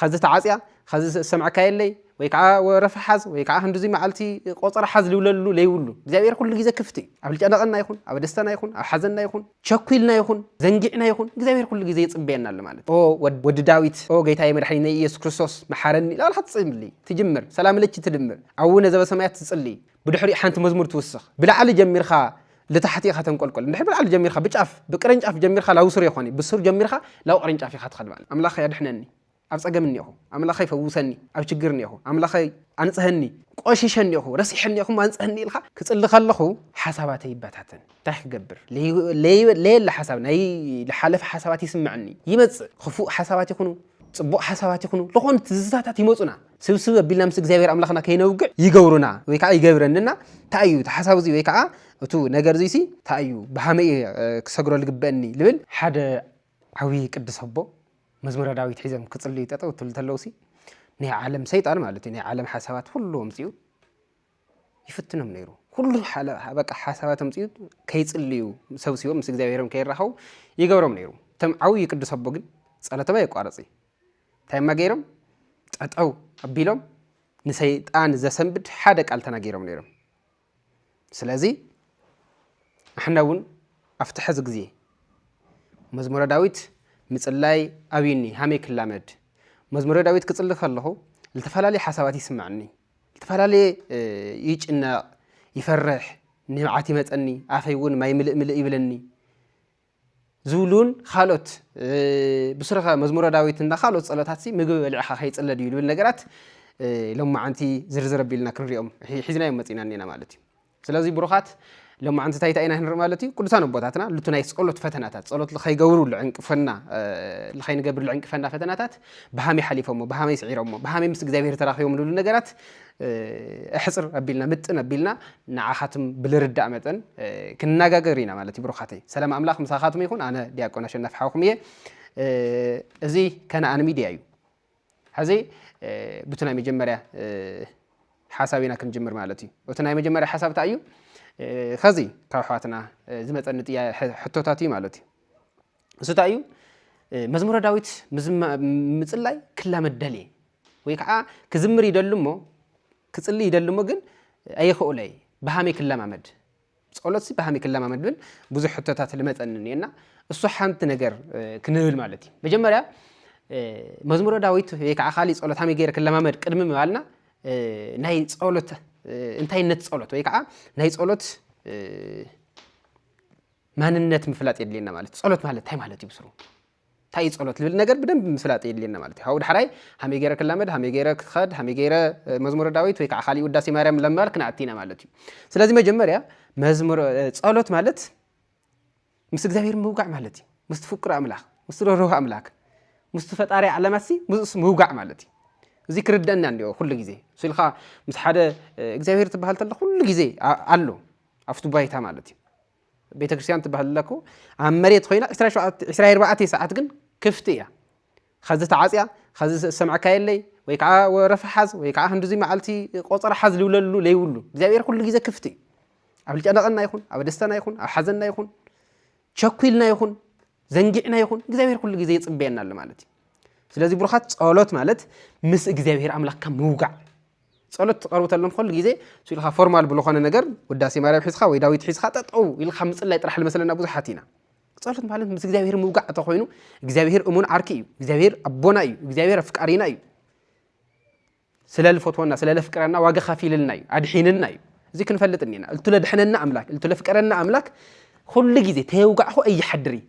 ኸዚ ተዓጽያ ኸዚ ዝሰምዐካ የለይ ወይ ከዓ ወረፋ ሓዝ ወይ ከዓ ክንዲዙይ መዓልቲ ቆፀራ ሓዝ ልብለሉ ለይብሉ እግዚኣብሔር ኩሉ ግዜ ክፍት እዩ ኣብ ጨነቐና ይኹን ኣብ ደስታና ይኹን ኣብ ሓዘንና ይኹን ቸኲልና ይኹን ዘንጊዕና ይኹን እግዚኣብሔር ኩሉ ግዜ ይፅበየና ኣሎ ማለት ኦ ወዲ ዳዊት ኦ ጌታዬ መድሓኒነይ ኢየሱስ ክርስቶስ መሓረኒ ላልካ ትፅምልይ ትጅምር ሰላም ለች ትድምር ኣቡነ ዘበሰማያት ትፅልይ ብድሕሪኡ ሓንቲ መዝሙር ትውስኽ። ብላዕሊ ጀሚርካ ልታሕቲ ኢኻ ተንቆልቆል። እንድሕር ብላዕሊ ጀሚርካ ብጫፍ ብቅርንጫፍ ጀሚርካ ላብ ሱር የኾኒ ብሱር ጀሚርካ ላብ ቅርንጫፍ ኢኻ ትኸድ ማለት። ኣምላኸይ ኣድሕነኒ ኣብ ጸገም እኔኹ። ኣምላኸይ ፈውሰኒ ኣብ ችግር እኔኹ። ኣምላኸይ ኣንጽሀኒ ቆሺሸ እኔኹ ረሲሐ እኔኹ እሞ ኣንጽሀኒ ኢልካ ክጽሊ ከለኹ ሓሳባተይ ይበታተን። እንታይ ክገብር ለየለ ሓሳብ ናይ ልሓለፈ ሓሳባት ይስመዐኒ ይመጽእ። ክፉእ ሓሳባት ይኹኑ ጽቡቕ ሓሳባት ይኹኑ ዝኾኑ ትዝታታት ይመጹና። ስብስብ ኣቢልና ምስ እግዚኣብሔር ኣምላኽና ከይነውግዕ ይገብሩና ወይ ከዓ ይገብረንና እንታይ እዩ እቲ ሓሳብ እዚ ወይ ከዓ እቱ ነገር እዙይ ሲ እንታይ እዩ ብሃመይ እየ ክሰግሮ ልግበእኒ ልብል ሓደ ዓብዪ ቅዱስ ኣቦ መዝሙረ ዳዊት ሒዘም ክፅልዩ ጠጠው ትብል ተለው ሲ ናይ ዓለም ሰይጣን ማለት እዩ ናይ ዓለም ሓሳባት ኩሉ ኣምፅኡ ይፍትኖም ነይሩ ኩሉ በቃ ሓሳባት ኣምፅኡ ከይፅልዩ ሰብሲቦም ምስ እግዚኣብሔሮም ከይራኸቡ ይገብሮም ነይሩ እቶም ዓብዪ ቅዱስ ኣቦ ግን ጸሎቶም ኣየቋረፅ እዩ እንታይ እማ ገይሮም ጠጠው ኣቢሎም ንሰይጣን ዘሰንብድ ሓደ ቃል ተናጊሮም ነይሮም ስለዚ ኣሕና እውን ኣብቲ ሕዚ ግዜ መዝሙረ ዳዊት ምፅላይ ኣብዩኒ ሃመይ ክላመድ መዝሙረ ዳዊት ክፅሊ ከለኹ ዝተፈላለየ ሓሳባት ይስምዐኒ ዝተፈላለየ ይጭነቕ ይፈርሕ ንብዓት ይመፀኒ ኣፈይ እውን ማይ ምልእ ምልእ ይብለኒ ዝብሉን ኻልኦት ብሱረኸ መዝሙረ ዳዊት እና ኻልኦት ጸሎታትሲ ምግቢ በሊዕኻ ከይጽለ ድዩ ዝብል ነገራት ሎማዓንቲ ዝርዝር ኣቢልና ክንሪኦም ሒዝናዮም መጺና እኔና ማለት እዩ ስለዚ ብሩኻት ሎማዓንቲ እንታይ እንታይ ኢና ክንርኢ ማለት እዩ ቅዱሳን ኣቦታትና ልቱ ናይ ጸሎት ፈተናታት ጸሎት ልኸይገብሩ ልዕንቅፈና ልኸይንገብር ልዕንቅፈና ፈተናታት ብሃመይ ሓሊፎሞ ብሃመይ ስዒሮሞ ብሃመይ ምስ እግዚኣብሔር ተራኺቦም ዝብሉ ነገራት ኣሕጽር ኣቢልና ምጥን ኣቢልና ንዓኻትም ብልርዳእ መጠን ክንናጋገር ኢና ማለት እዩ ብሩኻተይ ሰላም ኣምላኽ ምሳኻትም ይኹን ኣነ ዲያቆን ኣሸናፊ ሓውኹም እየ እዚ ከነኣን ሚድያ እዩ ሕዚ ብቲ ናይ መጀመርያ ሓሳብ ኢና ክንጅምር ማለት እዩ እቲ ናይ መጀመርያ ሓሳብ እንታይ እዩ ከዚ ካብ ኣሕዋትና ዝመፀኒ ሕቶታት እዩ ማለት እዩ እሱ እንታይ እዩ መዝሙረ ዳዊት ምፅላይ ክላመድ ደልየ ወይ ከዓ ክዝምር ይደሉ እሞ ክፅሊ ይደሉ እሞ ግን ኣይኸእሎ እየ ብሃመይ ክለማመድ ፀሎት ሲ ብሃመይ ክለማመድ ብል ብዙሕ ሕቶታት ልመፀኒ እኒኤና እሱ ሓንቲ ነገር ክንብል ማለት እዩ መጀመርያ መዝሙረ ዳዊት ወይ ከዓ ካሊእ ፀሎት ሃመይ ገይረ ክለማመድ ቅድሚ ምባልና ናይ ፀሎት እንታይነት ፀሎት ወይ ከዓ ናይ ፀሎት ማንነት ምፍላጥ የድልየና ማለት እዩ ፀሎት ማለት እንታይ ማለት እዩ ብስሩ እንታይ ፀሎት ልብል ነገር ብደንብ ምፍላጥ የድልየና ማለት እዩ ካብኡ ዳሕራይ ሃመይ ገይረ ክላመድ ሃመይ ገይረ ክኸድ ሃመይ ገይረ መዝሙረ ዳዊት ወይ ከዓ ካሊእ ውዳሴ ማርያም ለማር ክንኣቲ ኢና ማለት እዩ ስለዚ መጀመርያ መዝሙር ፀሎት ማለት ምስ እግዚኣብሔር ምውጋዕ ማለት እዩ ምስ ትፍቅሩ ኣምላኽ ምስ ትረርሁ ኣምላክ ምስ ፈጣሪ ዓለማት ሲ ምስኡስ ምውጋዕ ማለት እዩ እዚ ክርደአና እንዲኦ ኩሉ ግዜ ስልካ ምስ ሓደ እግዚኣብሔር ትበሃል ተለ ኩሉ ግዜ ኣሎ ኣፍቱ ባይታ ማለት እዩ ቤተ ክርስቲያን ትበሃል እላ እኮ ኣብ መሬት ኮይና ዕስራ ኣርባዕተ ሰዓት ግን ክፍቲ እያ ከዚ ተዓፅያ ከዚ ዝሰምዐካ የለይ ወይ ከዓ ወረፋ ሓዝ ወይ ከዓ ክንዲዚ መዓልቲ ቆፀራ ሓዝ ዝብለሉ ለይብሉ እግዚኣብሔር ኩሉ ግዜ ክፍቲ እዩ ኣብ ልጨነቐና ይኹን ኣብ ደስተና ይኹን ኣብ ሓዘና ይኹን ቸኲልና ይኹን ዘንጊዕና ይኹን እግዚኣብሔር ኩሉ ግዜ ይፅበየና ኣሎ ማለት እዩ ስለዚ ብሩኻት ፀሎት ማለት ምስ እግዚኣብሔር ኣምላክካ ምውጋዕ ጸሎት ትቀርቡ ተለኩም ኩሉ ግዜ ኢልካ ፎርማል ብዝኾነ ነገር ውዳሴ ማርያም ሒዝካ ወይ ዳዊት ሒዝካ ጠጠው ኢልካ ምጽላይ ጥራሕ ዝመስለና ብዙሓት ኢና ጸሎት ማለት ምስ እግዚኣብሄር ምውጋዕ እንተኾይኑ እግዚኣብሄር እሙን ዓርኪ እዩ እግዚኣብሄር ኣቦና እዩ እግዚኣብሄር ኣፍቃሪና እዩ ስለ ዝፈትወና ስለ ዘፍቅረና ዋጋ ከፊልልና እዩ ኣድሒንና እዩ እዚ ክንፈልጥ እኒና እልቱ ለድሐነና ኣምላክ እልቱ ለፍቀረና ኣምላክ ኩሉ ግዜ ተየውጋዕኹ እይሓድር እዩ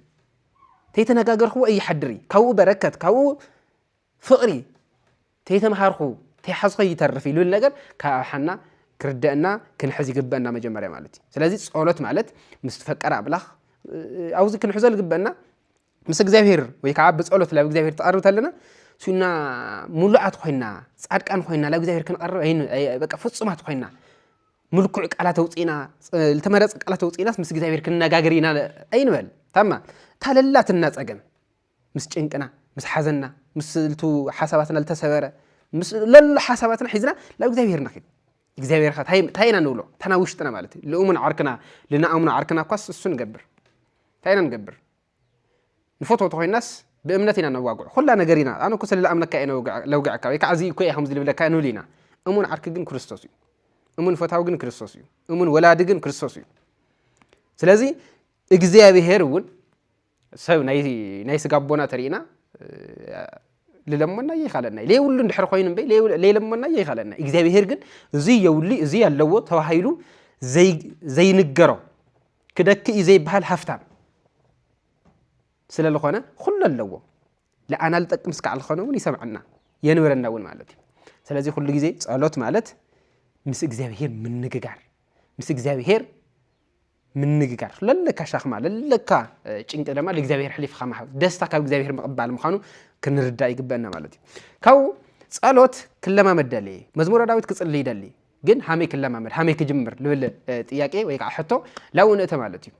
ተይተነጋገርኹዎ እይሓድር እዩ ካብኡ በረከት ካብኡ ፍቕሪ ተይተምሃርኹ ተይሓዝኾ ይተርፍ ኢሉ ነገር ካብ ኣብ ሓና ክርደአና ክንሕዝ ይግበአና መጀመርያ ማለት እዩ ስለዚ ጸሎት ማለት ምስ ትፈቀር ኣምላኽ ኣብዚ ክንሕዞ ዝግበአና ምስ እግዚኣብሄር ወይ ከዓ ብጸሎት ናብ እግዚኣብሄር ትቐርብ ተለና ሱና ሙሉዓት ኮይና ጻድቃን ኮይና ናብ እግዚኣብሄር ክንቐርብ በቃ ፍጹማት ኮይና ምልኩዕ ቃላት ኣውፅኢና ዝተመረፀ ቃላት ኣውፅኢናስ ምስ እግዚኣብሄር ክንነጋገር ኢና ኣይንበል ታማ ታለላትና ፀገም ምስ ጭንቅና ምስ ሓዘንና ምስ ልቱ ሓሳባትና ዝተሰበረ ምስ ለሎ ሓሳባትና ሒዝና ናብ እግዚኣብሔር ንኺድ እግዚኣብሔር ኸ እንታይ ኢና ንብሎ እታ ናብ ውሽጥና ማለት እዩ ልእሙን ዓርክና ልንኣምኖ ዓርክና እኳስ እሱ ንገብር እንታይ ኢና ንገብር ንፈትወቶ ኮይናስ ብእምነት ኢና ነዋግዑ ኩላ ነገር ኢና ኣነ እኮ ስለ ዝኣምነካ እየ ለውግዐካ ወይ ከዓ እዚ እኮ እየ ከምዚ ልብለካ ንብል ኢና እሙን ዓርኪ ግን ክርስቶስ እዩ እሙን ፈታዊ ግን ክርስቶስ እዩ እሙን ወላዲ ግን ክርስቶስ እዩ ስለዚ እግዚኣብሄር እውን ሰብ ናይ ስጋ ኣቦና ተሪእና ልለመናዮ ይካለና ለየብሉ እንድሕር ኮይኑ እምበይ ለይለመናዮ ይካለና እግዚኣብሄር ግን እዚ የብሉ እዚ ኣለዎ ተባሂሉ ዘይንገሮ ክደክ እዩ ዘይበሃል ሃፍታም ስለ ዝኾነ ኩሉ ኣለዎ ለኣና ልጠቅም ስካዕ ዝኾነ እውን ይሰምዐና የንብረና እውን ማለት እዩ ስለዚ ኩሉ ግዜ ጸሎት ማለት ምስ እግዚኣብሄር ምንግጋር ምስ እግዚኣብሄር ምንግጋር ለለካ ሻክማ ለለካ ጭንቂ ድማ ለእግዚኣብሔር ሕሊፍካ ምሃብ ደስታ ካብ እግዚኣብሔር ምቕባል ምዃኑ ክንርዳእ ይግበአና ማለት እዩ ካብኡ ጸሎት ክለማመድ ደልየ መዝሙረ ዳዊት ክጽልይ ደሊ ግን ሃመይ ክለማመድ ሃመይ ክጅምር ልብል ጥያቄ ወይ ከዓ ሕቶ ላብኡ ንእተ ማለት እዩ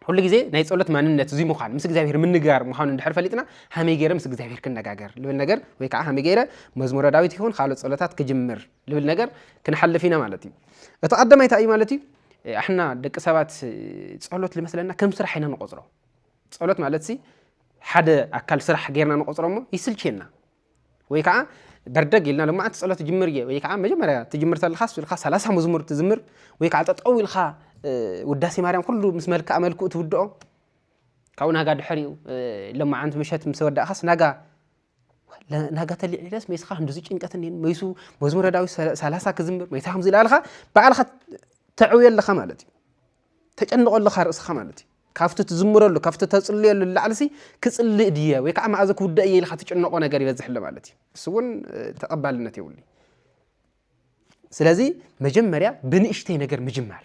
ኩሉ ግዜ ናይ ጸሎት ማንነት እዙይ ምዃን ምስ እግዚኣብሔር ምንግጋር ምዃኑ እንድሕር ፈሊጥና ሃመይ ገይረ ምስ እግዚኣብሔር ክነጋገር ልብል ነገር ወይ ከዓ ሃመይ ገይረ መዝሙረ ዳዊት ይኹን ካልኦት ጸሎታት ክጅምር ልብል ነገር ክንሓልፍ ኢና ማለት እዩ እቲ ቀዳማይ እንታይ እዩ ማለት እዩ ኣሕና ደቂ ሰባት ጸሎት ዝመስለና ከም ስራሕ ኢና ንቆፅሮ ጸሎት ማለት ሲ ሓደ ኣካል ስራሕ ጌርና ንቆፅሮ እሞ ይስልችየና ወይ ከዓ በርደግ ኢልና ልማዓት ጸሎት ጅምር እየ ወይ ከዓ መጀመርያ ትጅምር ተለኻስ ኢልካ ሰላሳ መዝሙር ትዝምር ወይ ከዓ ጠጠው ኢልካ ውዳሴ ማርያም ኩሉ ምስ መልክዓ መልክኡ ትውድኦ ካብኡ ናጋ ድሕሪኡ ለማዓንቲ ምሸት ምስ ወዳእኻስ ናጋ ናጋ ተሊዒለስ መይስኻ ክንድዚ ጭንቀት እኒን መይሱ መዝሙረ ዳዊት ሰላሳ ክዝምር መይሳ ከምዚ ኢላልካ ባዕልኻ ተዕውዮ ኣለኻ ማለት እዩ ተጨንቆ ኣለኻ ርእስኻ ማለት እዩ ካብቲ ትዝምረሉ ካብቲ ተፅልየሉ ላዕልሲ ክፅልእ ድየ ወይ ከዓ መኣዘ ክውዳእ እየ ኢልካ ትጭነቆ ነገር ይበዝሕ ኣሎ ማለት እዩ እሱ እውን ተቐባልነት የብሉ ስለዚ መጀመርያ ብንእሽተይ ነገር ምጅማር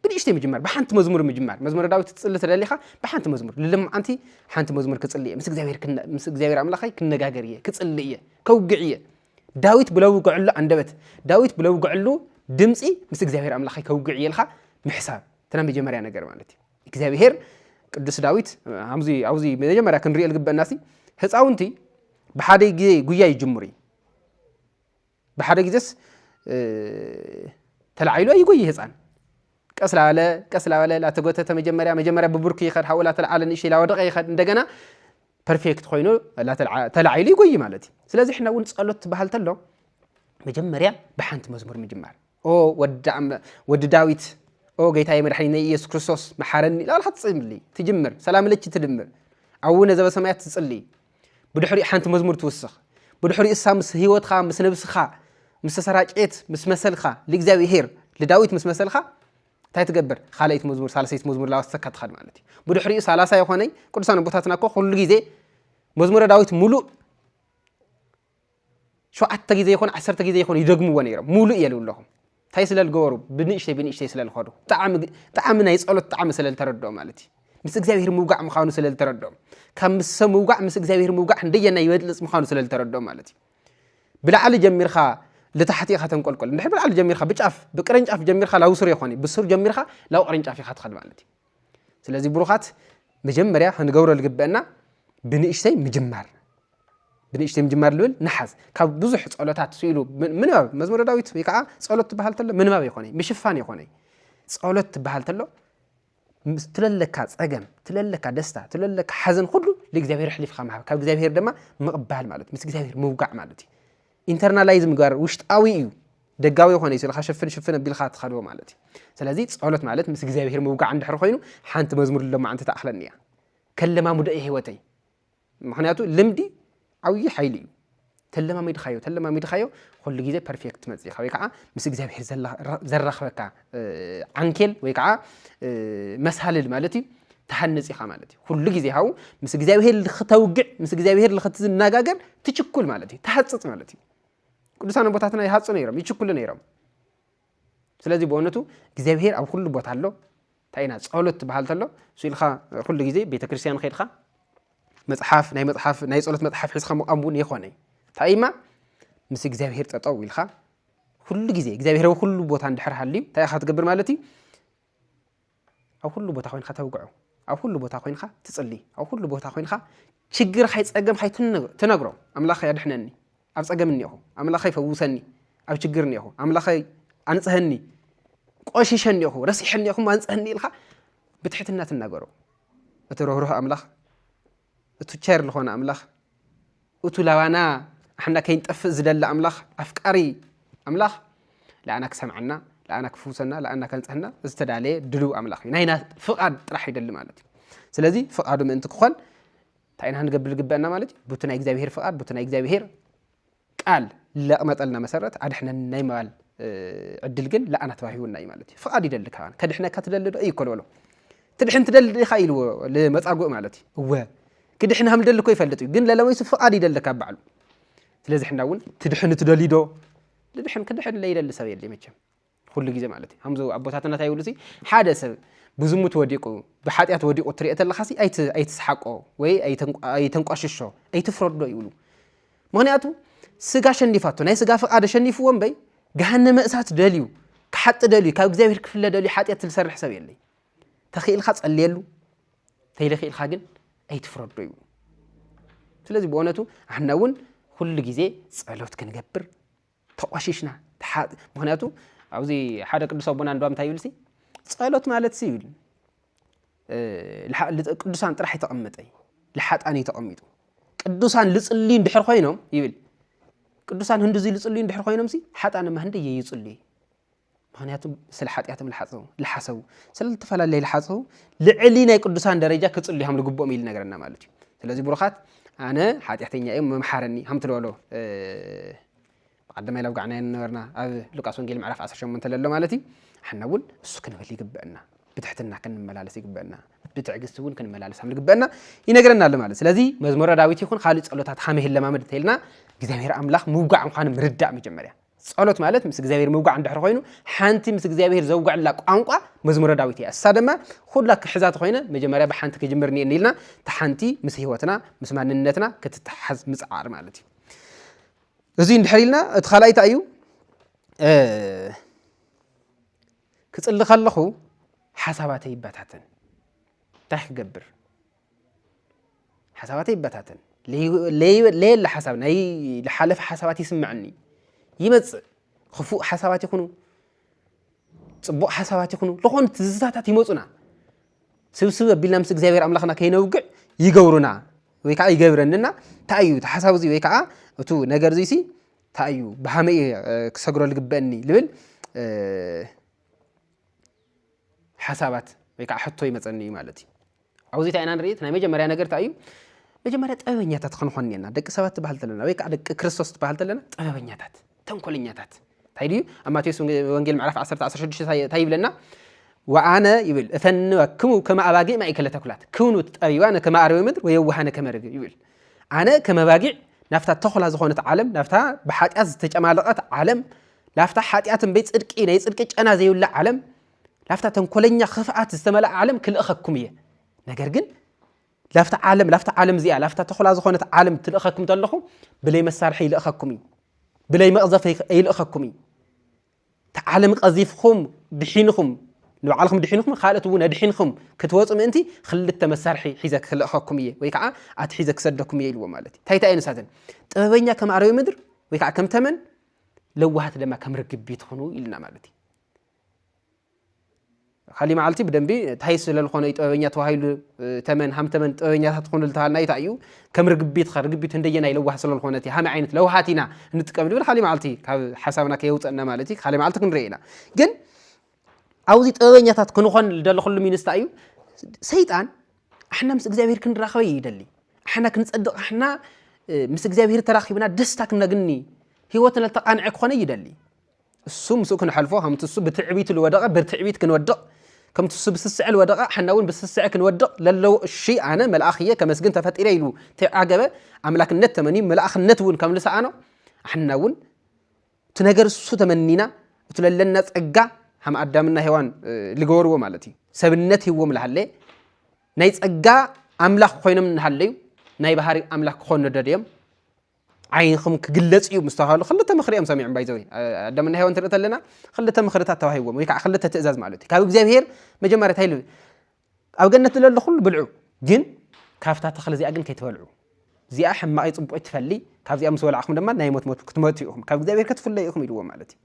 ብንእሽተይ ምጅማር ብሓንቲ መዝሙር ምጅማር መዝሙረ ዳዊት ትፅሊ ተደሊኻ ብሓንቲ መዝሙር ልለማዓንቲ ሓንቲ መዝሙር ክፅሊ እየ ምስ እግዚኣብሔር ምስ እግዚኣብሔር ኣምላኸይ ክነጋገር እየ ክፅሊ እየ ከውግዕ እየ ዳዊት ብለውግዐሉ ኣንደበት ዳዊት ብለውግዐሉ ድምፂ ምስ እግዚኣብሔር ኣምላኸይ ከውግዕ እየ ኢልካ ምሕሳብ ተና መጀመርያ ነገር ማለት እዩ እግዚኣብሔር ቅዱስ ዳዊት ኣብዚ ኣብዚ መጀመርያ ክንሪኦ ዝግበአና ሲ ህፃውንቲ ብሓደ ግዜ ጉያ ይጅምሩ እዩ ብሓደ ግዜስ ተላዒሉ ኣይጎይ ህፃን ቀስ ላበለ ቀስ ላበለ ላተጎተተ መጀመርያ መጀመርያ ብብርኩ ይኸድ ሓኡ ላተልዓለ ንእሽተይ ላወደቀ ይኸድ እንደገና ፐርፌክት ኮይኑ ተላዒሉ ይጎይ ማለት እዩ ስለዚ ሕና እውን ፀሎት ትበሃል ተሎ መጀመርያ ብሓንቲ መዝሙር ምጅማር ኦ ወዲ ዳዊት ኦ ጌታዬ መድሓኒነይ ኢየሱስ ክርስቶስ መሓረኒ ላልካ ትጽሊ ትጅምር ሰላም ለች ትድምር ኣውነ ዘበሰማያት ትጽሊ ብድሕሪኡ ሓንቲ መዝሙር ትውስኽ ብድሕሪኡ እሳ ምስ ህይወትካ ምስ ነብስኻ ምስ ተሰራጨት ምስ መሰልካ ልእግዚኣብሄር ልዳዊት ምስ መሰልካ እንታይ ትገብር ካልኣይቲ መዝሙር ሳለሰይቲ መዝሙር ላወሰካ ትኸድ ማለት እዩ ብድሕሪኡ ሳላሳ ይኾነይ ቅዱሳን ኣቦታትና እኮ ኩሉ ግዜ መዝሙረ ዳዊት ሙሉእ ሸውዓተ ግዜ ይኹን ዓሰርተ ግዜ ይኹን ይደግምዎ ነይሮም ሙሉእ የልው ኣለኹም እንታይ ስለ ዝገበሩ ብንእሽተይ ብንእሽተይ ስለ ዝኸዱ ጣዕሚ ናይ ጸሎት ጣዕሚ ስለ ዝተረድኦም ማለት እዩ ምስ እግዚኣብሔር ምውጋዕ ምዃኑ ስለ ዝተረድኦም ካብ ምስ ሰብ ምውጋዕ ምስ እግዚኣብሔር ምውጋዕ እንደየና ይበልጽ ምዃኑ ስለ ዝተረድኦም ማለት እዩ ብላዕሊ ጀሚርካ ልታሕቲ ኢኻ ተንቆልቆል እንድሕር ብላዕሊ ጀሚርካ ብጫፍ ብቅርንጫፍ ጀሚርካ ላብ ስሩ ይኾን እዩ ብስሩ ጀሚርካ ላብ ቅርንጫፍ ኢኻ ትኸድ ማለት እዩ ስለዚ ብሩኻት መጀመርያ ክንገብሮ ዝግበአና ብንእሽተይ ምጅማር ብንእሽተይ ምጅማር ልብል ንሓዝ ካብ ብዙሕ ጸሎታት ስኢሉ ምንባብ መዝሙረ ዳዊት ወይ ከዓ ጸሎት ትበሃል ተሎ ምንባብ ይኾነ ምሽፋን ይኾነ ጸሎት ትበሃል ተሎ ትለለካ ጸገም ትለለካ ደስታ ትለለካ ሓዘን ኩሉ ንእግዚኣብሔር ኣሕሊፍካ ምሃብ ካብ እግዚኣብሔር ድማ ምቕባል ማለት ምስ እግዚኣብሔር ምውጋዕ ማለት እዩ ኢንተርናላይዝ ምግባር ውሽጣዊ እዩ ደጋዊ ይኾነ እዩ ስለካ ሽፍን ሽፍን ኣቢልካ ትኸዶ ማለት እዩ ስለዚ ፀሎት ማለት ምስ እግዚኣብሔር ምውጋዕ እንድሕር ኮይኑ ሓንቲ መዝሙር ሎማዓንቲ ተኣኽለኒ እያ ከለማሙደ እዩ ህይወተይ ምክንያቱ ልምዲ ዓብዪ ሓይሊ እዩ ተለማሚድካዮ ተለማሚድካዮ ኩሉ ግዜ ፐርፌክት ትመፅእ ኢኻ ወይ ከዓ ምስ እግዚኣብሔር ዘራኽበካ ዓንኬል ወይ ከዓ መሳልል ማለት እዩ ትሃንፅ ኢኻ ማለት እዩ ኩሉ ግዜ ሃው ምስ እግዚኣብሄር ልክተውግዕ ምስ እግዚኣብሄር ልክትናጋገር ትችኩል ማለት እዩ ትሃፅፅ ማለት እዩ ቅዱሳን ቦታትና ይሃፁ ነይሮም ይችኩሉ ነይሮም ስለዚ ብእውነቱ እግዚኣብሄር ኣብ ኩሉ ቦታ ኣሎ እንታይ ኢና ፀሎት ትበሃል ተሎ ስኢልካ ኩሉ ግዜ ቤተ ክርስቲያን ከድካ መፅሓፍ ናይ መፅሓፍ ናይ ፀሎት መፅሓፍ ሒዝካ ምቋም እውን የኮነ እንታይ እማ ምስ እግዚኣብሄር ጠጠው ኢልካ ኩሉ ግዜ እግዚኣብሔር ኣብ ኩሉ ቦታ እንድሕር ሃልዩ እንታይ ኢኻ ትገብር ማለት እዩ ኣብ ኩሉ ቦታ ኮይንካ ተውግዖ ኣብ ኩሉ ቦታ ኮይንካ ትጽሊ ኣብ ኩሉ ቦታ ኮይንካ ችግር ኻይ ጸገም ኻይ ትነግሮ ኣምላኸ ኣድሕነኒ ኣብ ጸገም እኒኹ ኣምላኸ ይፈውሰኒ ኣብ ችግር እኒኹ ኣምላኸ ኣንጽሀኒ ቆሽሸ እኒኹ ረሲሐ እኒኹ ኣንጽሀኒ ኢልካ ብትሕትና ትናገሮ እቲ ርህሩህ ኣምላኽ እቲ ቸር ዝኾነ ኣምላኽ እቱ ላባና ኣሕና ከይንጠፍእ ዝደሊ ኣምላኽ ኣፍቃሪ ኣምላኽ ልኣና ክሰምዐና ልኣና ክፍውሰና ልኣና ከንፅህና ዝተዳለየ ድልው ኣምላኽ እዩ ናይና ፍቓድ ጥራሕ ይደሊ ማለት እዩ ስለዚ ፍቓዱ ምእንቲ ክኾን እንታይ ኢና ክንገብር ዝግበአና ማለት እዩ ቡቲ ናይ እግዚኣብሄር ፍቓድ ቡቲ ናይ እግዚኣብሄር ቃል ለቅመጠልና መሰረት ኣድሕነኒ ናይ ምባል ዕድል ግን ለኣና ተዋሂቡና እዩ ማለት እዩ። ፍቃድ ይደሊ ካባና ከድሕነካ ትደሊ ዶ እዩ እኮ ልበሎ ትድሕን ትደሊ ዲኻ ኢልዎ ልመጻጉእ ማለት እዩ። እወ ክድሕን ሃም ልደሊ እኮ ይፈልጥ እዩ ግን ለለወይሱ ፍቃድ ይደሊ ካብ ባዕሉ ስለዚ ሕና እውን ትድሕን ትደሊ ዶ ልድሕን ክድሕን ለይደሊ ሰብ የለ መቸም ኩሉ ግዜ ማለት እዩ ከምዚ ኣቦታትና እንታይ ይብሉ ሓደ ሰብ ብዝሙት ወዲቁ ብሓጢኣት ወዲቁ ትሪኦ ተለካ ኣይትስሓቆ ወይ ኣይተንቋሽሾ ኣይትፍረዶ ይብሉ ምክንያቱ ስጋ ሸኒፋቶ ናይ ስጋ ፍቃድ ሸኒፍዎ እምበይ ገሃነመ እሳት ደልዩ ክሓጢ ደልዩ ካብ እግዚኣብሔር ክፍለ ደልዩ ሓጢኣት ዝሰርሕ ሰብ የለይ ተኽኢልካ ጸልየሉ ተይለኽኢልካ ግን ኣይትፍረዶ ይብሉ ስለዚ ብእውነቱ ኣሕና እውን ኩሉ ግዜ ጸሎት ክንገብር ተቋሺሽና ተሓጽ ምክንያቱ ኣብዚ ሓደ ቅዱስ ኣቦና እንዶ እንታይ ይብልሲ ጸሎት ማለት ሲ ይብል ቅዱሳን ጥራሕ ተቐመጠ ልሓጣን እዩ ተቐሚጡ ቅዱሳን ልጽልዩ እንድሕር ኮይኖም ይብል ቅዱሳን ህንዲ እዚ ልጽልዩ እንድሕር ኮይኖም ሲ ሓጣንማ ህንዲ እየ ይጽልዩ ምክንያቱ ስለ ሓጢኣቶም ልሓፀቡ ልሓሰቡ ስለ ዝተፈላለየ ልሓፀቡ ልዕሊ ናይ ቅዱሳን ደረጃ ክፅሉ ሃም ልግብኦም እዩ ልነገረና ማለት እዩ ስለዚ ብሩኻት ኣነ ሓጢኣተኛ እዮም መምሓረኒ ሃም ትልበሎ ብቀዳማይ ላብ ጋዕናዮ ነበርና ኣብ ሉቃስ ወንጌል ምዕራፍ 18 ለሎ ማለት እዩ ሓና እውን እሱ ክንብል ይግበአና ብትሕትና ክንመላለስ ይግበአና ብትዕግስቲ እውን ክንመላለስ ሃም ልግበአና ይነግረና ኣሎ ማለት ስለዚ መዝሙረ ዳዊት ይኹን ካልእ ጸሎታት ሃመ ይለማመድ እንተይልና እግዚኣብሔር ኣምላኽ ምውጋዕ ምዃኑ ምርዳእ መጀመርያ ጸሎት ማለት ምስ እግዚኣብሔር ምውጋዕ እንድሕር ኮይኑ ሓንቲ ምስ እግዚኣብሔር ዘውግዐላ ቋንቋ መዝሙረ ዳዊት እያ እሳ ድማ ኩላ ክሕዛት ኮይነ መጀመርያ ብሓንቲ ክጅምር እኒኤኒ ኢልና እቲ ሓንቲ ምስ ህይወትና ምስ ማንነትና ክትተሓዝ ምፅዓር ማለት እዩ እዚ እንድሕር ኢልና እቲ ካልኣይ እንታይ እዩ ክፅሊ ከለኹ ሓሳባተይ ይበታተን እንታይ ክገብር ሓሳባተይ ይበታተን ለየለ ሓሳብ ናይ ዝሓለፈ ሓሳባት ይስምዐኒ ይመፅእ ክፉእ ሓሳባት ይኹኑ ፅቡቕ ሓሳባት ይኹኑ ዝኾኑ ትዝታታት ይመፁና ስብስብ ኣቢልና ምስ እግዚኣብሔር ኣምላኽና ከይነውግዕ ይገብሩና ወይ ከዓ ይገብረንና እንታይ እዩ እቲ ሓሳብ እዚ ወይ ከዓ እቱ ነገር እዙይ ሲ እንታይ እዩ ብሃመይ ክሰግሮ ዝግበአኒ ዝብል ሓሳባት ወይ ከዓ ሕቶ ይመፀኒ እዩ ማለት እዩ ኣብዚ ታይ ኢና ንርኢ እቲ ናይ መጀመርያ ነገር ታይ እዩ መጀመርያ ጥበበኛታት ክንኾን እኔና ደቂ ሰባት ትበሃል ተለና ወይ ከዓ ደቂ ክርስቶስ ትበሃል ተለና ጥበበኛታት ተንኮለኛታት ታይ ድዩ ኣብ ማቴዎስ ወንጌል ምዕራፍ 10 16 ታይ ይብለና ወኣነ ይብል እፈንወክሙ ከመ ኣባጊዕ ማእከለ ተኩላት ክኑ ጠቢባነ ከመ ኣርዌ ምድር ወየዋሃነ ከመ ርግብ ይብል ኣነ ከመ ኣባጊዕ ናብታ ተኹላ ዝኾነት ዓለም ናብታ ብሓጢኣት ዝተጨማለቐት ዓለም ናብታ ሓጢኣት እምበይ ፅድቂ ናይ ፅድቂ ጨና ዘይብላ ዓለም ላፍታ ተንኮለኛ ክፍኣት ዝተመልኣ ዓለም ክልእኸኩም እየ ነገር ግን ላፍታ ዓለም ላፍታ ዓለም እዚኣ ላፍታ ተኹላ ዝኾነት ዓለም ትልእኸኩም ተለኹ ብለይ መሳርሒ ይልእኸኩም እዩ ብለይ መቕዘፍ ይልእኸኩም እዩ እቲ ዓለም ቀዚፍኹም ድሒንኹም ንባዕልኹም ድሒንኹም ካልኦት እውን ኣድሒንኹም ክትወፁ ምእንቲ ክልተ መሳርሒ ሒዘ ክልእኸኩም እየ ወይ ከዓ ኣቲ ሒዘ ክሰደኩም እየ ኢልዎ ማለት እዩ እንታይ እንታይ እየ ንሳተን ጥበበኛ ከም ኣረዊ ምድር ወይ ከዓ ከም ተመን ለዋሃት ድማ ከም ርግቢት ኹኑ ኢልና ማለት እዩ ካሊእ መዓልቲ ብደንቢ እንታይ ስለልኾነ እዩ ጥበበኛ ተባሂሉ ተመን ሃም ተመን ጥበበኛታት ትኾኑ ልተባልና እንታይ እዩ ከም ርግቢት ኸ ርግቢት እንደየናይ ለዋህ ስለልኾነ እቲ ሃመ ዓይነት ለውሃት ኢና እንጥቀም ንብል ካሊእ መዓልቲ ካብ ሓሳብና ከየውፀእና ማለት እዩ ካሊእ መዓልቲ ክንርኢ ኢና ግን ኣብዚ ጥበበኛታት ክንኾን ልደለኹሉ ሚንስታ እዩ ሰይጣን ኣሕና ምስ እግዚኣብሔር ክንራኸበ ይደሊ ኣሕና ክንፀድቕ ኣሕና ምስ እግዚኣብሔር ተራኺብና ደስታ ክነግኒ ህይወትና ተቃንዐ ክኾነ ይደሊ እሱ ምስኡ ክንሐልፎ ከምቲ እሱ ብትዕቢቱ ልወደቐ ብትዕቢት ክንወድቕ ከምቲ እሱ ብስስዐ ልወደቐ ሐና እውን ብስስዐ ክንወድቕ ለለዎ እሺ ኣነ መልኣኽ እየ ከመስግን ተፈጢረ ኢሉ ተዓገበ ኣምላክነት ተመንዩ መልኣኽነት እውን ከም ልሰኣኖ ኣሕና እውን እቲ ነገር እሱ ተመኒና እቲ ለለና ጸጋ ከም ኣዳምና ሔዋን ልገበርዎ ማለት እዩ ሰብነት ሂዎም ልሃለ ናይ ጸጋ ኣምላኽ ኮይኖም ንሃለዩ ናይ ባህሪ ኣምላኽ ክኾኑ ደድዮም ዓይንኹም ክግለጽ እዩ ምስ ተባሃሉ ክልተ ምኽሪ እዮም ሰሚዖም ባይዘወይ ኣዳምና ሄዋን ትርኢ ተለና ክልተ ምኽርታት ተዋሂቦም ወይ ከዓ ክልተ ትእዛዝ ማለት እዩ ካብ እግዚኣብሄር መጀመርያ እንታይ ኢሉ ኣብ ገነት ዝለሎ ኩሉ ብልዑ ግን ካብታ ተኽሊ እዚኣ ግን ከይትበልዑ እዚኣ ሕማቐይ ፅቡቕ ትፈሊ ካብዚኣ ምስ በላዕኹም ድማ ናይ ሞት ሞት ክትመቱ ኢኹም ካብ እግዚኣብሄር ክትፍለዩ ኢኹም ኢልዎም ማለት እዩ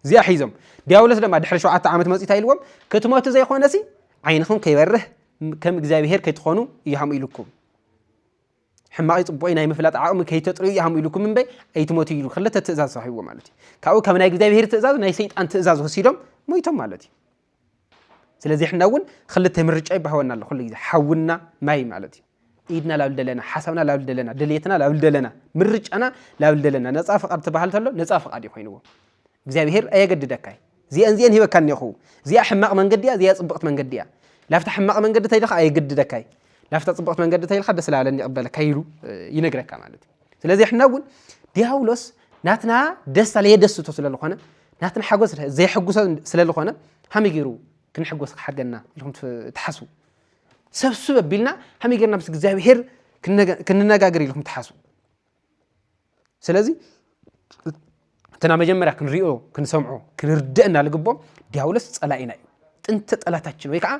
እዚኣ ሒዞም ዲያብሎስ ድማ ድሕሪ ሸውዓተ ዓመት መፅኡ እንታይ ኢልዎም ክትመቱ ዘይኮነሲ ዓይንኹም ከይበርህ ከም እግዚኣብሄር ከይትኾኑ እያም ኢልኩም ሕማቕይ ጽቡቕይ ናይ ምፍላጥ ዓቕሚ ከይተጥርዩ እያ ሃም ኢሉኩም እምበይ ኣይትሞቱ ኢሉ ክልተ ትእዛዝ ሰሒብዎ ማለት እዩ ካብኡ ካብ ናይ እግዚኣብሄር ትእዛዝ ናይ ሰይጣን ትእዛዝ ወሲዶም ሞይቶም ማለት እዩ ስለዚ ሕና እውን ክልተ ምርጫ ይባህወና ኣሎ ኩሉ ግዜ ሓውና ማይ ማለት እዩ ኢድና ላብል ደለና ሓሳብና ላብል ደለና ድልየትና ላብል ደለና ምርጫና ላብል ደለና ነፃ ፍቓድ ትበሃል ተሎ ነፃ ፍቓድ እዩ ኮይንዎ እግዚኣብሄር ኣየገድደካይ ዚኣን ዚኣን ሂበካ እኔኹ ዚኣ ሕማቕ መንገዲ እያ ዚኣ ጽብቕቲ መንገዲ እያ ላፍታ ሕማቕ መንገዲ ተይልኻ ኣየገድደካይ ላፍታ ጽብቕቲ መንገዲ ተይልካ ደስ ላበለኒ ይቕበለካ ኢሉ ይነግረካ ማለት እዩ ስለዚ ሕና እውን ዲያብሎስ ናትና ደስታ ለየደስቶ ስለ ዝኾነ ናትና ሓጎስ ዘየሐጉሶ ስለ ዝኾነ ሃመይ ገይሩ ክንሕጎስ ክሓገና ኢልኩም ትሓስቡ ሰብስብ ኣቢልና ሃመይ ገይርና ምስ እግዚኣብሄር ክንነጋገር ኢልኩም ትሓስቡ ስለዚ እትና መጀመርያ ክንሪኦ ክንሰምዖ ክንርደእ እና ልግቦ ዲያብሎስ ፀላኢና እዩ ጥንተ ጠላታችን ወይ ከዓ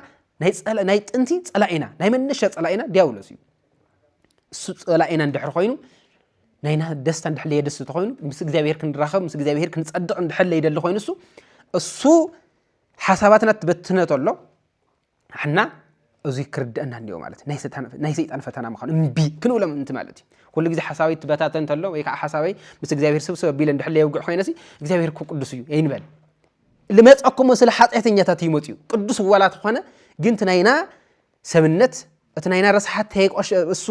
ናይ ጥንቲ ፀላኢና ናይ መነሻ ፀላኢና ዲያብሎስ እዩ እሱ ፀላኢና እንድሕር ኮይኑ ናይና ደስታ እንድሕር ለየደስ ተኮይኑ ምስ እግዚኣብሔር ክንራኸብ ምስ እግዚኣብሔር ክንፀድቕ እንድሕር ለይደሊ ኮይኑ እሱ እሱ ሓሳባትና ትበትነ ተሎ ንሕና እዙይ ክርድአና እኒኦ ማለት ናይ ሰይጣን ፈተና ምዃኑ እምቢ ክንብሎ ምእንቲ ማለት እዩ ኩሉ ግዜ ሓሳበይ ትበታተ እንተሎ ወይ ከዓ ሓሳበይ ምስ እግዚኣብሔር ስብስብ ኣቢለ እንድሕለ የውግዕ ኮይነ ሲ እግዚኣብሔር እኮ ቅዱስ እዩ ይንበል ልመፀኩሞ ስለ ሓጢአተኛታት እዩ መፅኡ ቅዱስ ዋላ ተኾነ ግን እቲ ናይና ሰብነት እቲ ናይና ረስሓት እሱ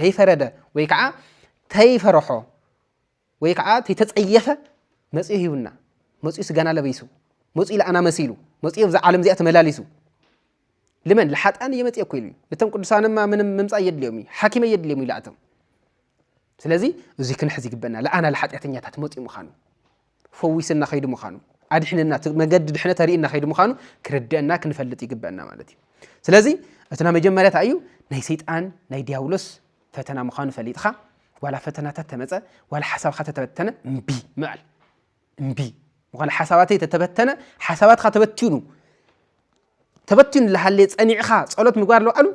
ተይፈረደ ወይ ከዓ ተይፈረሖ ወይ ከዓ ተይተፀየፈ መፂኡ ሂቡና መፂኡ ስጋና ለበይሱ መፂኡ ለኣና መሲሉ መፂኡ ኣብዛ ዓለም እዚኣ ተመላሊሱ ልመን ልሓጣን እየመፅየኩ ኢሉ እዩ ነቶም ቅዱሳንማ ምንም ምምፃእ የድልዮም እዩ ሓኪመ የድልዮም እዩ ላእቶም ስለዚ እዙይ ክንሕዝ ይግበና ለኣና ልሓጢኣተኛታት መፅኡ ምዃኑ ፈዊስና ከይዱ ምዃኑ ኣድሕንና መገዲ ድሕነት ኣርእና ከይዱ ምዃኑ ክርድአና ክንፈልጥ ይግበአና ማለት እዩ ስለዚ እትና መጀመርያታ እዩ ናይ ሰይጣን ናይ ዲያብሎስ ፈተና ምዃኑ ፈሊጥኻ ዋላ ፈተናታት ተመፀ ዋላ ሓሳብካ ተተበተነ እምቢ ምባል እምቢ ዋላ ሓሳባተይ ተተበተነ ሓሳባትካ ተበቲኑ ተበቲኑ ዝሃለየ ፀኒዕኻ ፀሎት ምግባር ለባዕሉ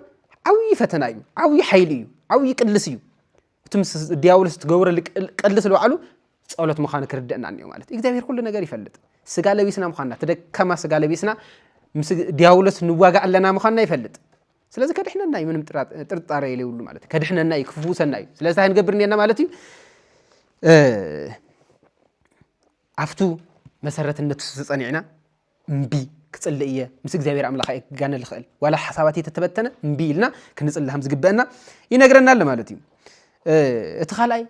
ዓብዪ ፈተና እዩ ዓብዪ ሓይሊ እዩ ዓብዪ ቅልስ እዩ እቲ ምስ ዲያብሎስ ትገብረሉ ቅልስ ለባዕሉ ፀሎት ምዃኑ ክርደአና እኒኦ ማለት እዩ እግዚኣብሔር ኩሉ ነገር ይፈልጥ ስጋ ለቢስና ምዃንና እቲ ደካማ ስጋ ለቢስና ምስ ዲያብሎስ ንዋጋእ ኣለና ምዃንና ይፈልጥ ስለዚ ከድሕነና እዩ ምንም ጥርጣረ የለይብሉ ማለት እዩ ከድሕነና እዩ ክፍውሰና እዩ ስለዚ እንታይ ንገብር እኒና ማለት እዩ ኣብቱ መሰረት እነቱ ዝፀኒዕና እምቢ ክፅልእ እየ ምስ እግዚኣብሔር ኣምላኽ እየ ክጋነ ዝኽእል ዋላ ሓሳባት እየተተበተነ እምቢ ኢልና ክንፅልእ ከም ዝግበአና ይነግረና ኣሎ ማለት እዩ እቲ ካልኣይ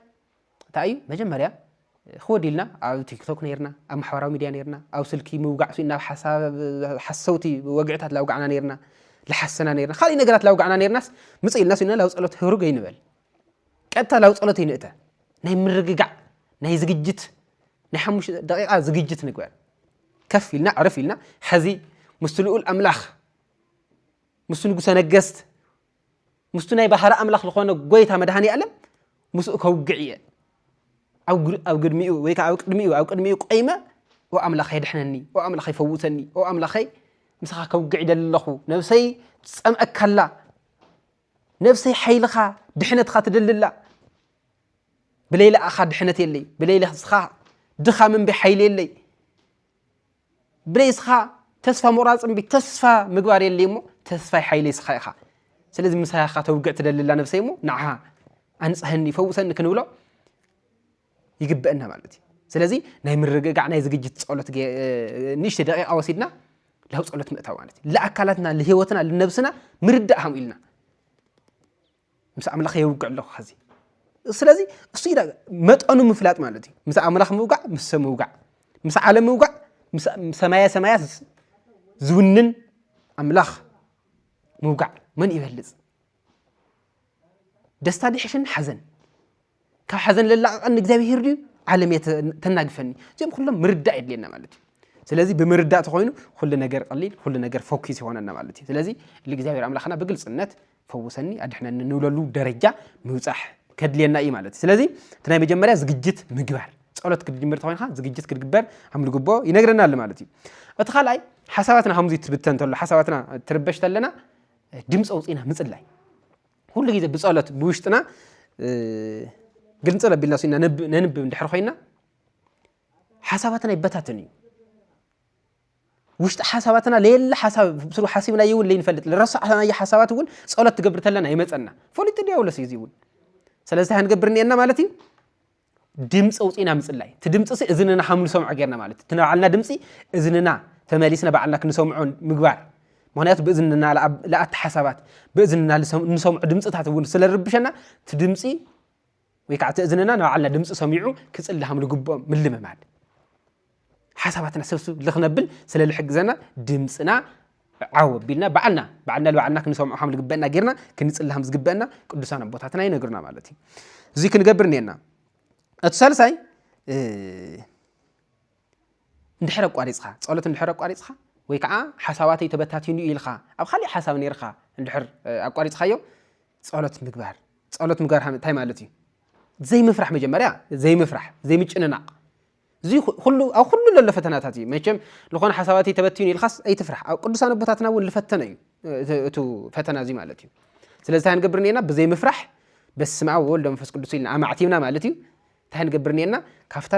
ታይ እዩ መጀመርያ ክወዲ ኢልና ኣብ ቲክቶክ ነርና ኣብ ማሕበራዊ ሚድያ ነርና ኣብ ስልኪ ምውጋዕ ስኢና ሓሰውቲ ወግዕታት ላውጋዕና ነርና ልሓሰና ነርና ካልእ ነገራት ላውጋዕና ነርናስ ምፅ ኢልና ስኢና ላው ፀሎት ህሩግ ኣይንበል ቀጥታ ላው ፀሎት ይንእተ ናይ ምርግጋዕ ናይ ዝግጅት ናይ ሓሙሽተ ደቂቃ ዝግጅት ንግበር ከፍ ኢልና ዕርፍ ኢልና ሕዚ ምስ ልኡል ኣምላኽ ምስ ንጉሰ ነገስት ምስቱ ናይ ባሕሪ ኣምላኽ ዝኾነ ጎይታ መድሃኒ ኣለም ምስኡ ከውግዕ እየ ኣብ ግድሚኡ ወይ ከዓ ኣብ ቅድሚኡ ኣብ ቅድሚኡ ቆይመ ኦ ኣምላኸይ ድሕነኒ ኦ ኣምላኸይ ፈውሰኒ ኦ ኣምላኸይ ምሳኻ ከውግዕ ይደሊ ኣለኹ ነብሰይ ትጸምአካላ ነብሰይ ሓይልኻ ድሕነትኻ ትደልላ ብለይላ ኣኻ ድሕነት የለይ ብለይላ ስኻ ድኻ ምንበይ ሓይሊ የለይ ብለይ እስኻ ተስፋ ምቑራጽ እምቢ ተስፋ ምግባር የለይ እሞ ተስፋይ ሓይለይ እስኻ ኢኻ ስለዚ ምሳኻ ተውግዕ ትደልላ ነብሰይ እሞ ንዓኻ ኣንጽሐኒ ፈውሰኒ ክንብሎ ይግበአና ማለት እዩ ስለዚ ናይ ምርግጋዕ ናይ ዝግጅት ጸሎት ንእሽተ ደቂቃ ወሲድና ላብ ጸሎት ምእታው ማለት እዩ ለኣካላትና ለህይወትና ልነብስና ምርዳእ ሃምኡ ኢልና ምስ ኣምላኽ የውግዕ ኣለኹ ኸዚ ስለዚ እሱ ኢና መጠኑ ምፍላጥ ማለት እዩ ምስ ኣምላኽ ምውጋዕ ምስ ሰብ ምውጋዕ ምስ ዓለም ምውጋዕ ሰማያ ሰማያት ዝውንን ኣምላኽ ምውጋዕ መን ይበልፅ ደስታ ድሕሽን ሓዘን ካብ ሓዘን ለላቕቐኒ እግዚኣብሄር ድዩ ዓለም እየ ተናግፈኒ እዚኦም ኩሎም ምርዳእ የድልየና ማለት እዩ ስለዚ ብምርዳእ ተኮይኑ ኩሉ ነገር ቀሊል ኩሉ ነገር ፎኪስ ይኾነና ማለት እዩ ስለዚ ልእግዚኣብሔር ኣምላኽና ብግልፅነት ፈውሰኒ ኣድሕነኒ ንብለሉ ደረጃ ምብፃሕ ከድልየና እዩ ማለት እዩ ስለዚ እቲ ናይ መጀመርያ ዝግጅት ምግባር ጸሎት ክትጅምር ተኮይንካ ዝግጅት ክትግበር ከም ዝግቦ ይነግረና ኣሎ ማለት እዩ እቲ ካልኣይ ሓሳባትና ከምዚ ትብተን ተሎ ሓሳባትና ትርበሽ ተለና ድምፂ ኣውፅኢና ምፅላይ ኩሉ ግዜ ብጸሎት ብውሽጥና ግልንጽል ኣቢልና ሲና ነንብብ እንድሕር ኮይና ሓሳባትና ይበታትን እዩ ውሽጢ ሓሳባትና ለየለ ሓሳብ ብስሩ ሓሲብና እውን ለይንፈልጥ ዝረሳዕናዮ ሓሳባት እውን ጸሎት ትገብር ተለና ይመፀና ፈሊጡ ዲያብሎስ እዩ እዚ እውን ስለዚ እንታይ ክንገብር እኒኤና ማለት እዩ ድምፂ ኣውፂእና ምፅላይ እቲ ድምፂ እዝንና ከም ንሰምዖ ጌርና ማለት እቲ ናባዕልና ድምፂ እዝንና ተመሊስና ባዕልና ክንሰምዖ ምግባር ምክንያቱ ብእዝንና ለኣቲ ሓሳባት ብእዝንና ንሰምዑ ድምፅታት እውን ስለርብሸና እቲ ድምፂ ወይ ከዓ እቲ እዝንና ንባዕልና ድምፂ ሰሚዑ ክፅሊ ከም ዝግብኦም ምልምማድ ሓሳባትና ሰብስብ ልክነብል ስለ ልሕግዘና ድምፅና ዓው ኣቢልና ባዕልና ባዕልና ልባዕልና ክንሰምዖ ከም ዝግበአና ጌርና ክንፅሊ ከም ዝግበአና ቅዱሳን ኣቦታትና ይነግሩና ማለት እዩ እዚ ክንገብር እኒአና እቲ ሳልሳይ እንድሕር ኣቋሪፅካ ፀሎት እንድሕር ኣቋሪፅካ ወይ ከዓ ሓሳባተይ ተበታቲኑ ኢልካ ኣብ ካሊእ ሓሳብ ነርካ እንድሕር ኣቋሪፅካዮ ፀሎት ምግባር ፀሎት ምግባር እንታይ ማለት እዩ ዘይምፍራሕ መጀመርያ ዘይምፍራሕ ዘይምጭንናቕ እዚ ኩሉ ኣብ ኩሉ ለሎ ፈተናታት እዩ መቸም ዝኾነ ሓሳባትይ ተበትዩን ኢልካስ ኣይትፍራሕ ኣብ ቅዱሳን ኣቦታትና እውን ልፈተነ እዩ እቲ ፈተና እዚ ማለት እዩ ስለዚ እንታይ ንገብር ኔና ብዘይ ምፍራሕ በስመ ኣብ ወወልድ መንፈስ ቅዱስ ኢልና ኣማዕቲብና ማለት እዩ እንታይ ንገብር ኔና ካብታ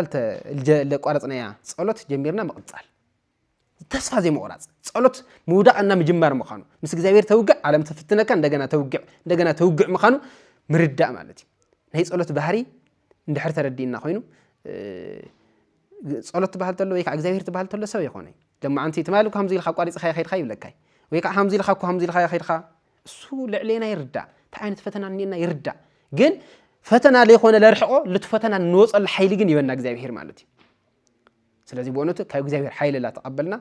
ለቋረፅናያ ፀሎት ጀሚርና ምቕፃል ተስፋ ዘይምቑራጽ ጸሎት ምውዳቕ እና ምጅማር ምዃኑ ምስ እግዚኣብሔር ተውግዕ ዓለም ትፍትነካ እንደገና ተውግዕ እንደገና ተውግዕ ምዃኑ ምርዳእ ማለት እዩ ናይ ጸሎት ባህሪ እንድሕር ተረዲእና ኮይኑ ጸሎት ትበሃል ተሎ ወይ ከዓ እግዚኣብሔር ትበሃል ተሎ ሰብ ይኾነ ደማዓንቲ ትማሊ እኳ ከምዚ ኢልካ ኣቋሪፅኻ ይኸድካ ይብለካ ወይ ከዓ ከምዚ ኢልካ እኳ ከምዚ ኢልካ ይኸድካ እሱ ልዕሌና ይርዳእ እንታይ ዓይነት ፈተና እኒና ይርዳእ ግን ፈተና ለይኮነ ለርሕቆ ልቲ ፈተና ንወፀሉ ሓይሊ ግን ይበና እግዚኣብሔር ማለት እዩ ስለዚ ብእውነቱ ካብ እግዚኣብሔር ሓይሊ ላ ተቐበልና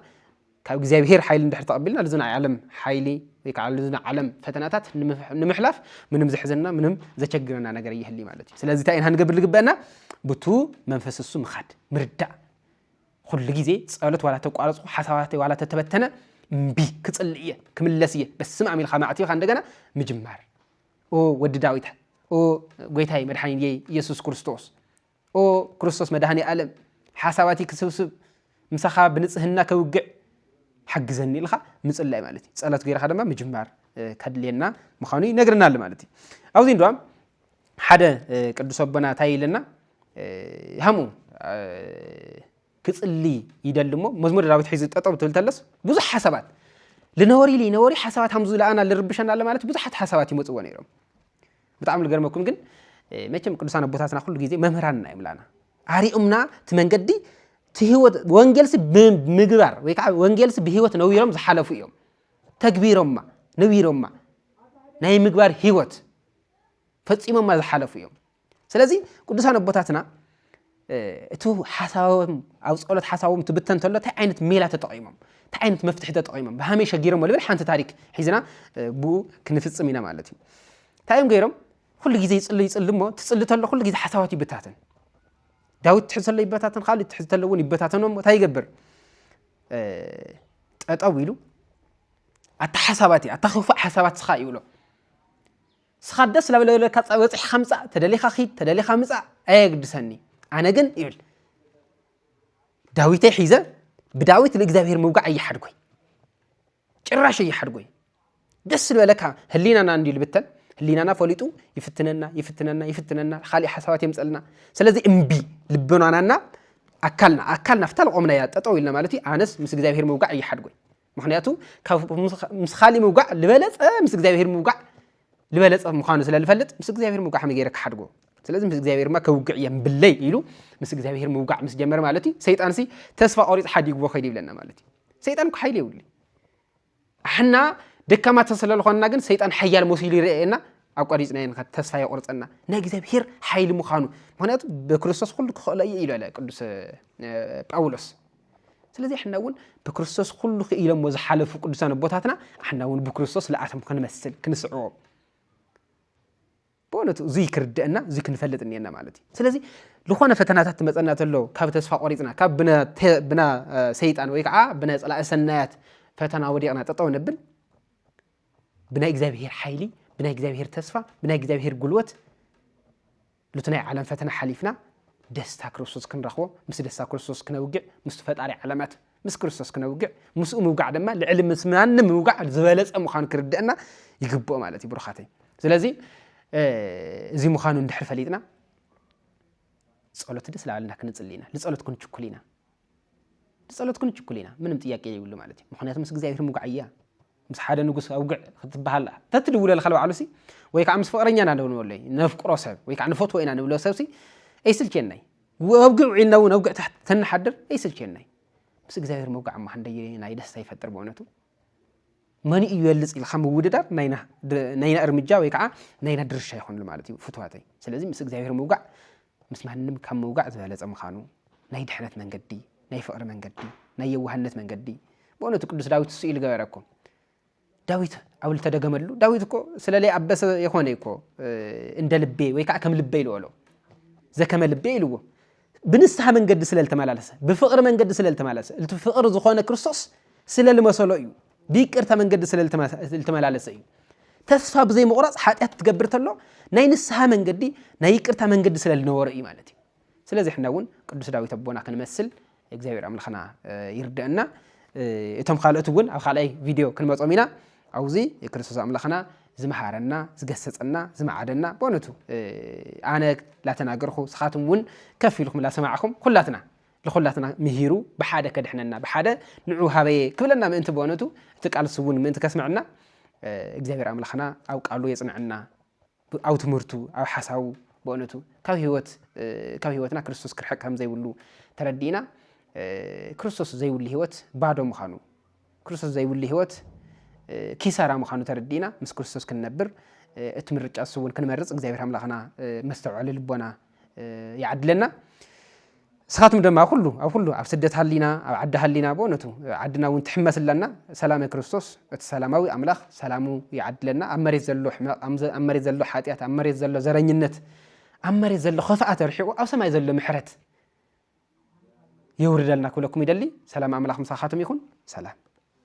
ካብ እግዚኣብሔር ሓይሊ እንድሕር ተቐቢልና እዚ ናይ ዓለም ሓይሊ ወይ ከዓ እዚ ናይ ዓለም ፈተናታት ንምሕላፍ ምንም ዘሕዘና ምንም ዘቸግረና ነገር እየህሊ ማለት እዩ ስለዚ እንታይ ኢና ንገብር ዝግበአና ብቱ መንፈስ እሱ ምኻድ ምርዳእ ኩሉ ግዜ ፀሎት ዋላ ተቋረፅኩ ሓሳባት ዋላ ተተበተነ እምቢ ክፅል እየ ክምለስ እየ በስመ ኣም ኢልካ ማዕቲኻ እንደገና ምጅማር ኦ ወዲ ዳዊት ኦ ጎይታይ መድሓኒት ኢየሱስ ክርስቶስ ኦ ክርስቶስ መድኃኔዓለም ሓሳባትይ ክስብስብ ምሳኻ ብንጽህና ከውግዕ ሓግዘኒ ኢልኻ ምጽላይ ማለት እዩ ጸሎት ገይርኻ ድማ ምጅማር ከድልየና ምዃኑ ይነግረና ኣሎ ማለት እዩ ኣብዚ እንድዋ ሓደ ቅዱስ ኣቦና እንታይ ኢለና ሃሙ ክጽሊ ይደሊ እሞ መዝሙር ዳዊት ሒዙ ጠጠብ ትብል ተለስ ብዙሕ ሓሳባት ልነበሪ ኢሉ ይነበሪ ሓሳባት ሃምዙ ለኣና ልርብሸና ኣሎ ማለት ብዙሓት ሓሳባት ይመፅዎ ነይሮም ብጣዕሚ ልገርመኩም ግን መቸም ቅዱሳን ኣቦታትና ኩሉ ግዜ መምህራንና እዮም ላና ኣሪኦምና እቲ መንገዲ ህወት ወንጌልሲ ብምግባር ወይ ከዓ ወንጌልሲ ብህይወት ነዊሮም ዝሓለፉ እዮም ተግቢሮማ ነዊሮማ ናይ ምግባር ህይወት ፈፂሞማ ዝሓለፉ እዮም ስለዚ ቅዱሳን ኣቦታትና እቱ ሓሳቦም ኣብ ጸሎት ሓሳቦም ትብተን ተሎ እንታይ ዓይነት ሜላ ተጠቒሞም እንታይ ዓይነት መፍትሒ ተጠቒሞም ብሃመይ ሸጊሮም ልብል ሓንቲ ታሪክ ሒዝና ብኡ ክንፍጽም ኢና ማለት እዩ እንታይ እዮም ገይሮም ኩሉ ግዜ ይጽሉ ይጽሉ እሞ ትጽሊ ተሎ ኩሉ ግዜ ሓሳባት ይበታተን ዳዊት ትሕዝ ተሎ ይበታተን ካልእ ትሕዝ ተሎ እውን ይበታተኖ እንታይ ይገብር ጠጠው ኢሉ ኣታ ሓሳባት እዩ ኣታ ክፉእ ሓሳባት ስኻ ይብሎ ንስኻ ደስ ላበለካ በፂሕኻ ምፃእ ተደሊኻ ኪድ ተደሊኻ ምፃእ ኣየግድሰኒ ኣነ ግን ይብል ዳዊተይ ሒዘ ብዳዊት ንእግዚኣብሔር ምውጋዕ እየሓድጎይ ጭራሽ እየሓድጎይ ደስ ዝበለካ ህሊናና እንዲ ልብተን ህሊናና ፈሊጡ ይፍትነና ይፍትነና ይፍትነና ካሊእ ሓሳባት የምፀልና ስለዚ እምቢ ልቦናናና ኣካልና ኣካልና ፍታ ልቆምናያ ጠጠው ኢልና ማለት እዩ ኣነስ ምስ እግዚኣብሔር ምውጋዕ እየሓድጎይ ምክንያቱ ካብ ምስ ካሊእ ምውጋዕ ዝበለፀ ምስ እግዚኣብሄር ምውጋዕ ዝበለፀ ምዃኑ ስለ ዝፈልጥ ምስ እግዚኣብሄር ምውጋዕ ከመይ ገይረ ክሓድጎ ስለዚ ምስ እግዚኣብሄር ማ ከውግዕ እየ ብለይ ኢሉ ምስ እግዚኣብሄር ምውጋዕ ምስ ጀመረ ማለት እዩ ሰይጣን ሲ ተስፋ ቆሪፅ ሓዲግዎ ከይድ ይብለና ማለት እዩ ሰይጣን እኮ ሓይሊ የብሉ ኣሕና ደካማተ ስለ ዝኾንና ግን ሰይጣን ሓያል መሲሉ ይርአየና ኣቋሪፅና የንካ ተስፋ የቁርፀና ናይ እግዚኣብሄር ሓይሊ ምዃኑ ምክንያቱ ብክርስቶስ ኩሉ ክኽእሎ እዩ ኢሉ ኣለ ቅዱስ ጳውሎስ ስለዚ ሕና እውን ብክርስቶስ ኩሉ ክኢሎሞ ዝሓለፉ ቅዱሳን ኣቦታትና ኣሕና እውን ብክርስቶስ ልኣቶም ክንመስል ክንስዕቦም ብእውነቱ እዙይ ክርድአና እዙይ ክንፈልጥ እኒአና ማለት እዩ ስለዚ ዝኾነ ፈተናታት ትመፀና ተሎ ካብ ተስፋ ቆሪፅና ካብ ብና ሰይጣን ወይ ከዓ ብና ፀላኢ ሰናያት ፈተና ወዲቕና ጠጠው ነብል ብናይ እግዚኣብሄር ሓይሊ ብናይ እግዚኣብሄር ተስፋ ብናይ እግዚኣብሄር ጉልበት ኑቲ ናይ ዓለም ፈተና ሓሊፍና ደስታ ክርስቶስ ክንረኽቦ ምስ ደስታ ክርስቶስ ክነውግዕ ምስቲ ፈጣሪ ዓለማት ምስ ክርስቶስ ክነውግዕ ምስኡ ምውጋዕ ድማ ልዕሊ ምስ ማንም ምውጋዕ ዝበለጸ ምዃኑ ክርድአና ይግብኦ ማለት እዩ ብሩኻተይ ስለዚ እዚ ምዃኑ እንድሕር ፈሊጥና ጸሎት ደስ ላዕልና ክንጽሊ ኢና ንጸሎት ክንችኩል ኢና ብጸሎት ክንችኩል ኢና ምንም ጥያቄ የብሉ ማለት እዩ ምክንያቱ ምስ እግዚኣብሔር ምጉዓያ ምስ ሓደ ንጉስ ኣውግዕ ክትበሃል ተትድውለልካ ልባዕሉሲ ወይ ከዓ ምስ ፍቅረኛ ኢና ንብለለይ ነፍቅሮ ሰብ ወይ ከዓ ንፈትዎ ኢና ንብሎ ሰብሲ ኣይስልቸናይ ወብግዕ ዒልና እውን ኣብግዕ ታሕቲ ተንሓድር ኣይስልቸናይ ምስ እግዚኣብሔር መውጋዕ እማ ክንደይ ናይ ደስታ ይፈጥር ብእውነቱ መን እዩ ይበልፅ ኢልካ ምውድዳር ናይና እርምጃ ወይ ከዓ ናይና ድርሻ ይኾንሉ ማለት እዩ ፍትዋተይ ስለዚ ምስ እግዚኣብሔር ምውጋዕ ምስ ማንም ካብ ምውጋዕ ዝበለጸ ምኻኑ፣ ናይ ድሕነት መንገዲ፣ ናይ ፍቕሪ መንገዲ፣ ናይ የዋህነት መንገዲ፣ ብእውነቱ ቅዱስ ዳዊት እሱ ኢሉ ገበረ እኮ። ዳዊት ኣብ ልተደገመሉ ዳዊት እኮ ስለ ለይኣበሰ የኾነ እኮ እንደ ልቤ ወይ ከዓ ከም ልበይ ልበሎ ዘከመ ልቤ ኢልዎ ብንስሐ መንገዲ ስለ ልተመላለሰ ብፍቕሪ መንገዲ ስለ ልተመላለሰ እቲ ፍቕሪ ዝኾነ ክርስቶስ ስለ ልመሰሎ እዩ ብይቅርታ መንገዲ ስለ ልተመላለሰ እዩ። ተስፋ ብዘይ ምቑራጽ ሓጢኣት ትገብር ተሎ ናይ ንስሓ መንገዲ ናይ ይቅርታ መንገዲ ስለ ልነበሮ እዩ ማለት እዩ። ስለዚ ሕና እውን ቅዱስ ዳዊት ኣቦና ክንመስል እግዚኣብሔር ኣምላኽና ይርድአና። እቶም ካልኦት እውን ኣብ ካልኣይ ቪድዮ ክንመጾም ኢና። ኣብዚ ክርስቶስ ኣምላኽና ዝመሃረና ዝገሰጸና ዝመዓደና በእውነቱ ኣነ ላተናገርኹ ስኻትም እውን ከፍ ኢልኩም ላሰማዕኹም ኩላትና ንዅላትና ምሂሩ ብሓደ ከድሕነና፣ ብሓደ ንዑ ሃበየ ክብለና ምእንቲ ብእውነቱ እቲ ቃልሲ እውን ምእንቲ ከስመዐና እግዚኣብሔር ኣምላኽና ኣብ ቃሉ የጽንዐና፣ ኣብ ትምህርቱ፣ ኣብ ሓሳቡ ብእውነቱ ካብ ህይወት ካብ ህይወትና ክርስቶስ ክርሕቅ ከም ዘይብሉ ተረዲእና ክርስቶስ ዘይብሉ ህይወት ባዶ ምዃኑ ክርስቶስ ዘይብሉ ህይወት ኪሳራ ምዃኑ ተረዲእና ምስ ክርስቶስ ክንነብር እቲ ምርጫ ንሱ እውን ክንመርፅ እግዚኣብሔር ኣምላኽና መስተውዐሊ ልቦና ይዓድለና። ንስኻትኩም ድማ ኣብ ኩሉ ኣብ ኩሉ ኣብ ስደት ሃሊና ኣብ ዓዲ ሃሊና ብእውነቱ ዓድና እውን ትሕመስ ኣለና ሰላመ ክርስቶስ እቲ ሰላማዊ ኣምላኽ ሰላሙ ይዓድለና ኣብ መሬት ዘሎ ሕመቕ ኣብ መሬት ዘሎ ሓጢኣት ኣብ መሬት ዘሎ ዘረኝነት ኣብ መሬት ዘሎ ክፍኣት ኣርሒቑ ኣብ ሰማይ ዘሎ ምሕረት የውርደልና ክብለኩም ይደሊ ሰላም ኣምላኽ ምሳኻትም ይኹን ሰላም።